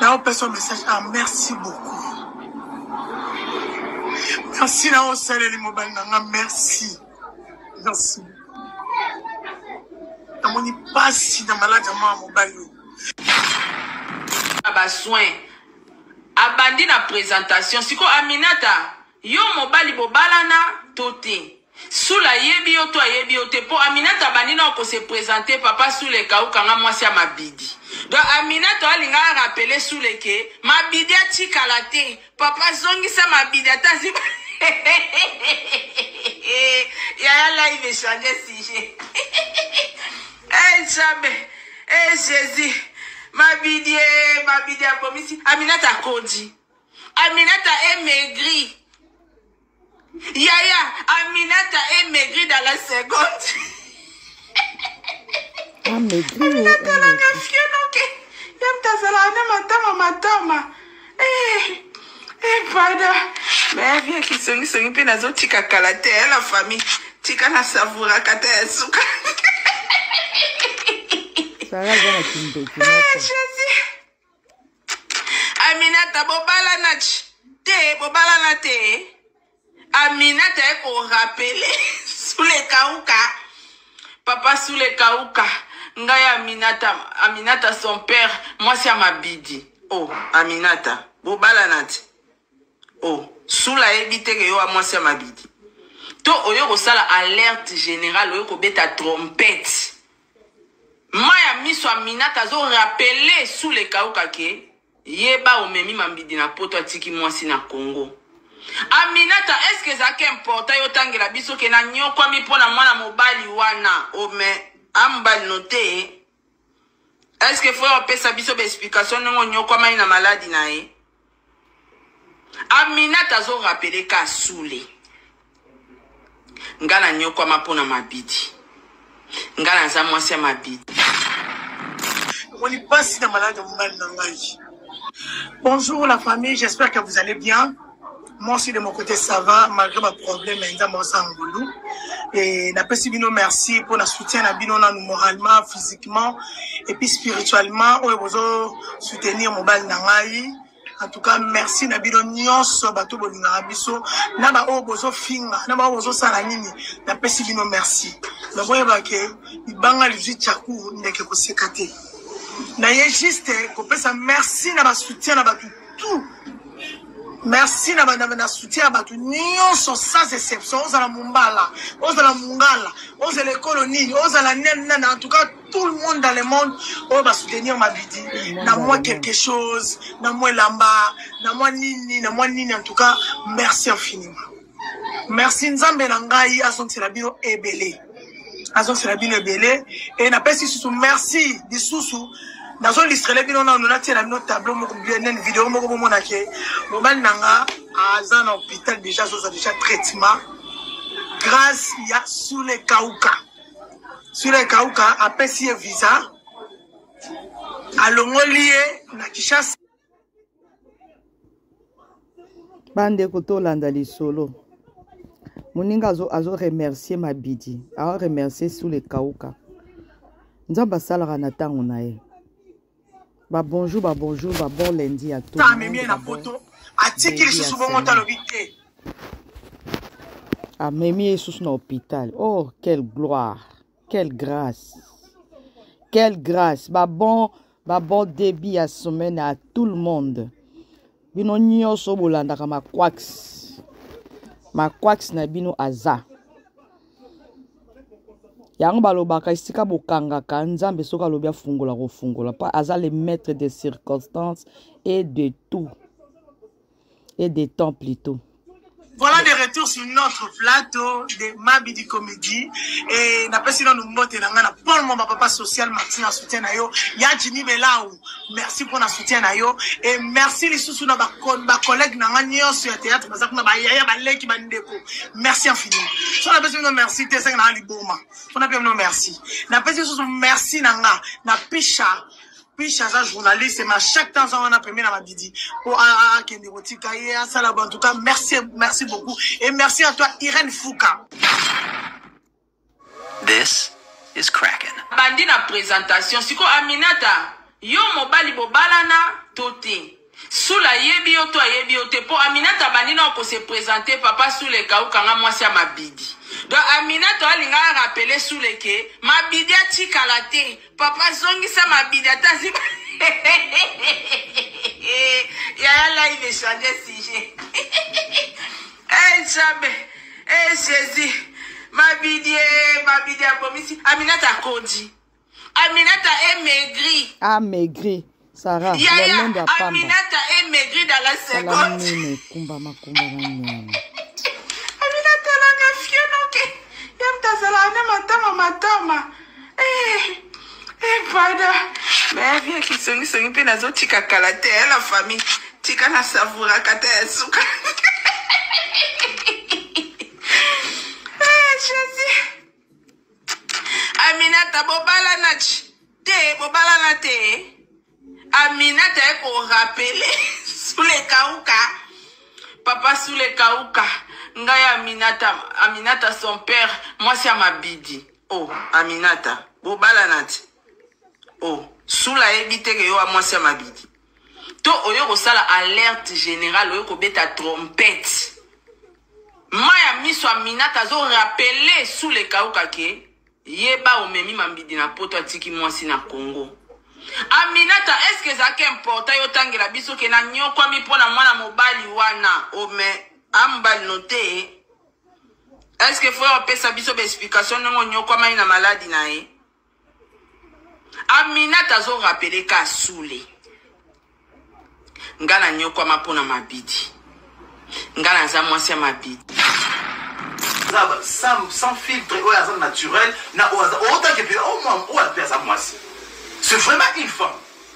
na opesa message ah merci beaucoup merci na osaleli mobali na nga merci merci namoni mpasi na maladi ya mwana mobali oyo basoin abandi na présentation sikoyo aminata yo mobali bobalana to te Sula ayebi yo to ayebi yo te po Aminata abandi nao ko se presenter papa Sula ekauka nga mwasi ya Mabidi. Donc Aminata alinga a rappeler Sula ke Mabidi atikala te. Papa zongisa Mabidi ata azi Yaya live echange sujet. Eh nzambe, eh Jésus. Mabidi eh Mabidi abomisi. Aminata akondi. Aminata est maigri. Yaya, Aminata est maigrie dans la seconde. Ah, maigrie. Oh, Aminata, la nafio, ok. Yam tazala, ane matama, matama. Eh, eh, pada. Mais, viens qui songi, songi, pe nazo tika kala te, la famille. Tika na savoura kata ya suka. Sarah, zana kimbe, kimbe. Eh, Jésus. aminata bobalana te bobalana te aminata ye korapele sulekauka papa sulekauka ngai aminata aminata son père mwasi ya mabidi o oh, aminata bobalana te o oh, sula ayebi te ke yo wa mwasi ya mabidi to oyo kosala alerte générale oyo kobeta trompete Mayi ya miso Aminata azo rappeler Sule Ekawuka ke yeba omemi mambidi na poto atiki mwasi na Congo. Aminata est-ce que ezalaki important yo otangela biso ke na niokwami mpo na mwana mobali wana oh mais a mobali no te est-ce que faut opesa biso ba explication ndenge oniokwamaki na maladi na ye? Aminata azo rappeler Kasule. Nga na nyokwama mpo na mabidi. Nga naza mwasi ya mabidi. Omoni pasi na malade ya mobali na ngai. Bonjour la famille, j'espère que vous allez bien. Moi aussi de mon côté ça va malgré ba problème ya nzambe oza ngolu et napesi bino merci mpo na soutien na bino nanu moralement physiquement et puis spirituellement oyo bozo soutenir mobali na ngai en tout cas merci na bino nyonso bato bolingaka biso na baoyo bozofinga na baoyo bozosala nini napesi bino merci me boyeba ke libanga lizwi chaku ndeke koseka te naye juste kopesa merci na basoutien na bato tout merci na bandambe na soutien ya bato nyonso sans exception ozala mombala ozala mongala ozala ekolo nini ozala nene nene en tout cas tout le monde dans le monde oyo basoutenir mabidi na mwa quelque chose na mwa elamba na mwa nini na mwa nini en tout cas merci infiniment merci nzambe na ngai azongisela bino ebele azongisela bino ebele e napesi lisusu merci lisusu nazolistrele bino nano natie na bino tableau moko nene video moko bomona ke mobali na nga aza na hôpital déjà azoza déjà traitement grâce ya sule kauka sule kauka apesi ye visa alongoli ye na kishasa bandeko tolanda lisolo moninga azo, azo remercier mabidi azo remercier sule kauka nzambe asalaka na ntango na ye babonjour babonjour babon lendi ya to amemi ye na poto atiki lisusu bongo te alobi te amemi ye lisusu na hôpital oh quelle gloire Quelle grâce. Quelle grâce. Ba bon, ba bon débit ya semaine à tout le monde. Bino nyoso bolandaka ma quax. Ma quax na bino aza. yango balobaka esika bokangaka nzambe soki alobi afungola kofungola mpo aza le maître des circonstances et de tout et de temps plutôt Voilà de retour sur notre plateau de Mabidi Comédie. Et n'a pas si nous mbote na ngana pour mon papa social Martin en soutien na yo. Ya Jimmy Belaou. Merci pour na soutien na yo et merci les sous na ba ba collègues na ngana sur théâtre parce que na ba yaya ba leki ba ndeko. Merci infiniment. So na pesi no merci te sanga na liboma. On a bien no merci. Na pesi sous merci na nga na picha Piche aza journaliste mais à chaque temps aza wana pembeni na Madidi po akende kotika ye asala ba en tout cas merci merci beaucoup et merci à toi Irène Fouka. This is Kraken. Bandi na présentation siko Aminata yo mobali bobalana to te. Sula ayebi yo to ayebi yo te po Aminata abandi nao ko se presenter papa Sula ekauka nga mwasi ya Mabidi. Donc Aminata alinga a rappeler Sula ke Mabidi atikala te. Papa zongisa Mabidi ata azi Yaya live echange sujet. Eh Nzambe, eh Jésus. Mabidi, eh, Mabidi abomisi. Aminata akondi. Aminata est maigri. Ah, maigri. Sarah, Yaya, Aminata est maigri dans la seconde. Nene, kumba makumba na nyama. Aminata la kafio noke. Yam tazala na matama matama. Eh, eh pada. Mais bien ki songi songi pe nazo tika kala te eh, la famille. Tika na savoura kata ya suka. Eh, Jésus. Aminata bobala na te bobala na te Aminata est pour rappeler sous les kauka papa sous les kauka ngai Aminata Aminata son père moi c'est Amabidi oh Aminata bobala na te oh sous la ebite que yo moi c'est Amabidi to oyo kosala alerte générale oyo kobeta trompette ma ya miso aminata azorapele sule kauka ke yeba omemi mambidi na poto atiki mwasi na congo aminata eske ezalaki importa yo otangela biso ke na nyokwami mpo na mwana mobali wana ome amobali no te eske fo opesa biso baexplikation ndenge onyokwamai na maladi na ye aminata azo rapele ka sule nga na nyokwama mpo na mabidi nga naza mwasi ya mabidi sans, sans filtre oyo aza naturel na oyo aza otake mpe oyo aza mwasi c'est vraiment une femme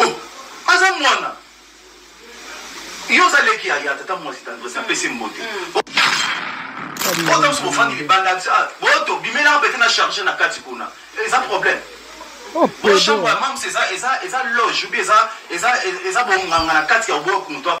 oh, aza mwana yo oza leki ya tata mwasi tandrese apesi mbote otamisi bofandi libanda ah, boto bimelaka pete na charge na kati kuna eza problème ochambre oh, ya mamsi eza loge obi eza bonganga na kati ya oboko moto